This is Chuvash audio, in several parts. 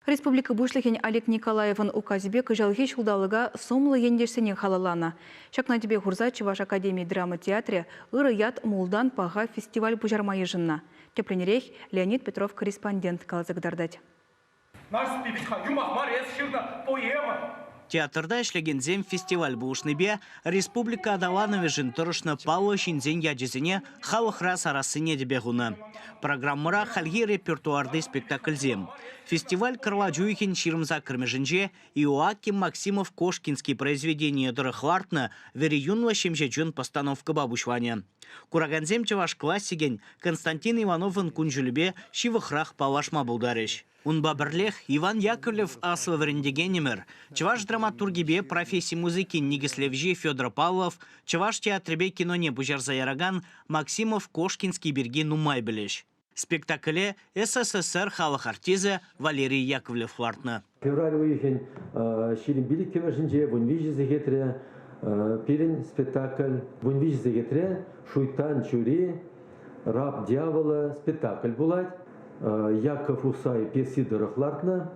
Республика Пуҫлӑхӗн Олег Николаевӑн указӗпе кӑҫалхи ҫулталӑка сумлӑ ентешсене халалланӑ. Ҫакна тӗпе хурса Чӑваш академи драма театрӗ Ырӑ ят мултан паха фестиваль пуҫарма йышӑннӑ. Тӗплӗнрех Леонид Петров корреспондент каласа кӑтартать. Нарспи вӗт-ха, юмах мар эс ҫырнӑ поэма. Театрта ӗҫлекенсем фестиваль пулӑшнипе республика аталанӑвӗшӗн тӑрӑшнӑ паллӑ ҫынсен ячӗсене халӑхра сарассине тӗпе хунӑ. Программӑра хальхи репертуарти спектакльсем. Фестиваль кӑрлачуйӑхӗн ҫирӗм саккӑрмӗшӗнче Иоаким Максимов Кошкинский произведение тӑрӑх лартнӑ вӗри юнлӑ ҫемҫе чун постановкӑпа пуҫланӑ. Куракансем чӑваш классикӗн Константин Ивановӑн кун-ҫулӗпе ҫывӑхрах паллашма пултарӗҫ. Унпа пӗрлех Иван Яковлев аслӑ вӗрентекенӗмӗр, чӑваш драматургипе професси музыкин никӗслевҫи Федор Павлов, чӑваш театрӗпе киноне пуҫарса яракан Максимов Кошкинский пирки нумай пӗлӗҫ. Спектакле СССР халӑх артисӗ Валерий Яковлев лартнӑ. Февраль уйӑхӗн ҫирӗм пилӗккӗмӗшӗнче вун виҫӗ сехетре пирӗн спектакль вун виҫӗ сехетре Шуйттан чури Раб дьявола спектакль пулать. Яков Усай пьеси тӑрӑх лартнӑ.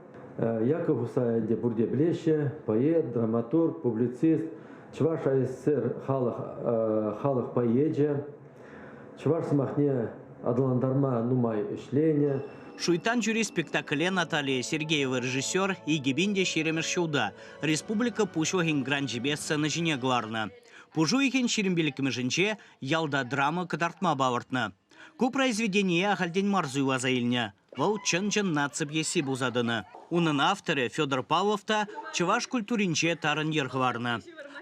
Яков Усай ӗнтӗ пурте пӗлеҫҫӗ, поэт, драматург, публицист, чӑваш АССР халӑх, халӑх поэчӗ. Чӑваш сӑмахне аталантарма нумай ӗҫленӗ. Шуйттан чури спектакле Наталия Сергеева режиссер икӗ пин те ҫирӗмӗш ҫулта республика Пуҫлӑхӗн гранчӗпе сцена ҫине кӑларнӑ. Пуш уйӑхӗн ҫирӗм пиллӗкмӗшӗнче ялта драма кӑтартма палӑртнӑ. Ку произведение ахальтен мар суйласа илнӗ. Вӑл чӑн-чӑн наци пьеси пулса тӑнӑ. Унӑн авторӗ Федор Павлов та чӑваш культуринче тарӑн йӗр хӑварнӑ.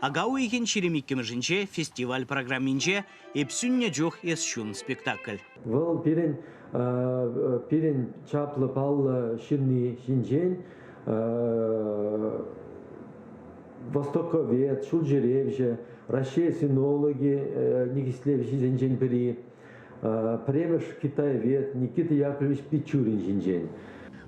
Ака уйӑхӗн ҫирӗм иккӗмӗшӗнче фестиваль программинче Эп сӳннӗ чух эс ҫун спектакль. Вӑл пирӗн пирӗн чаплӑ паллӑ ҫынни ҫинчен востоковед, ҫулҫӳревҫӗ, Раҫҫей синологи никӗслевҫисенчен пӗри, пӗрремӗш китаевед Никита Яковлевич Пичурин ҫинчен.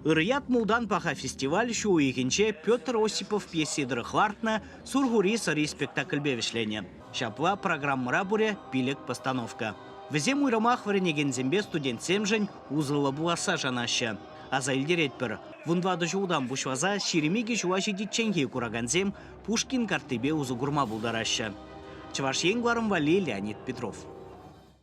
Ырӑ ят мултан паха фестиваль ҫу уйӑхӗнче Петр Осипов пьеси тӑрӑх лартнӑ Сурхури сӑри спектакльпе вӗҫленӗ. Ҫапла программӑра пурӗ пилӗк постановка. Вӗсем уйрӑмах вӗренекенсемпе студентсемшӗн усӑллӑ пуласса шанаҫҫӗ. Аса илтеретпӗр, вун тӑватӑ ҫултан пуҫласа ҫирӗм икӗ ҫула ҫитичченхи куракансем Пушкин карттипе усӑ курма пултараҫҫӗ. Чӑваш Ен кӑларӑм валли Леонид Петров.